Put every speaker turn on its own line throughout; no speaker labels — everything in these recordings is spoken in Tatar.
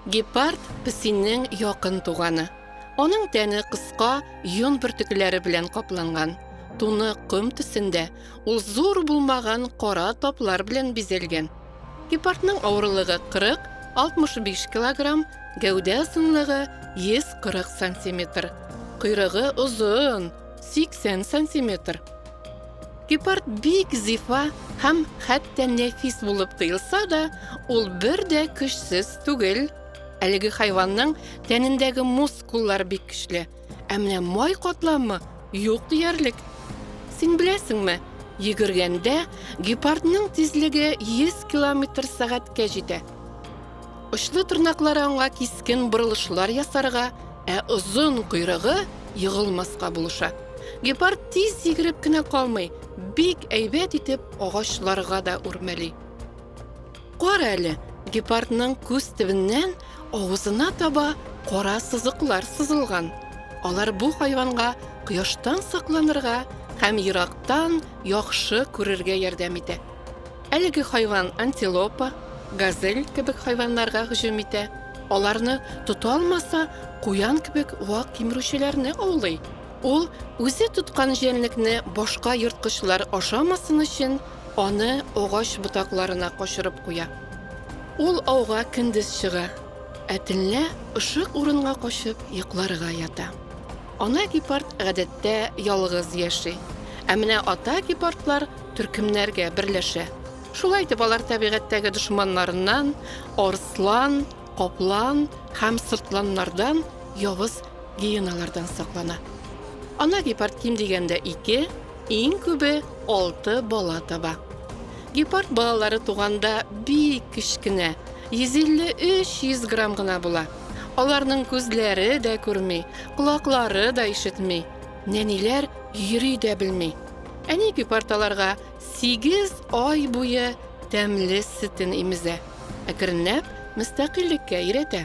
Гепард песиннең якын туганы. Аның тәне кыска, йон бөртекләре белән капланган. Туны ком төсендә, ул зур булмаган кара таплар белән бизәлгән. Гепардның авырлыгы 40, 65 килограмм, гәүдә озынлыгы 140 сантиметр, койрыгы озын, 80 сантиметр. Гепард бик зифа һәм хәтта нәфис булып тоелса да, ул бер дә көчсез түгел. Әлеге хайванның тәнендәге мускуллар бик көчле. Ә менә май катламы юк диярлек. Син беләсеңме, йөгергәндә гепардның тизлеге 100 километр сәгатькә җитә. Очлы тырнаклары аңа кискен борылышлар ясарга, ә озын койрыгы егылмаска булыша. Гепард тиз йөгереп кенә калмый, бик әйбәт итеп агачларга да үрмәли. Кара әле, гепардның күз төбеннән авызына таба кара сызыклар сызылган. Алар бу хайванга кояштан сакланырга һәм ерактан яхшы күрергә ярдәм итә. Әлеге хайван антилопа, газель кебек хайваннарга һөҗүм итә, аларны тота алмаса, куян кебек вак кимерүчеләрне аулый. Ул үзе тоткан җәнлекне башка ерткычлар ашамасын өчен Аны агач ботакларына качырып куя. Ул ауга көндез чыга, ә төнлә ышык урынга качып йокларга ята. Ана гепард гадәттә ялгыз яши, ә менә ата гепардлар төркемнәргә берләшә. Шулай итеп алар табигатьтәге дошманнарыннан, арслан, каплан һәм сыртланнардан, явыз гиеналардан саклана. Ана гепард ким дигәндә ике, иң күбе алты бала таба. Гепард балалары туганда бик кечкенә, 150-300 грамм гына була. Аларның күзләре дә күрми, колаклары да ишетми, нәниләр йөри дә белми. Әни гепард аларга Сигез ай буе тәмле сөтен имезә, әкренләп мөстәкыйльлеккә өйрәтә.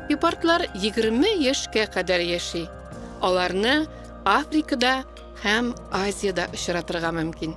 Гепардлар 20 яшькә кадәр яши. Аларны Африкада һәм Азиядә очратырга мөмкин.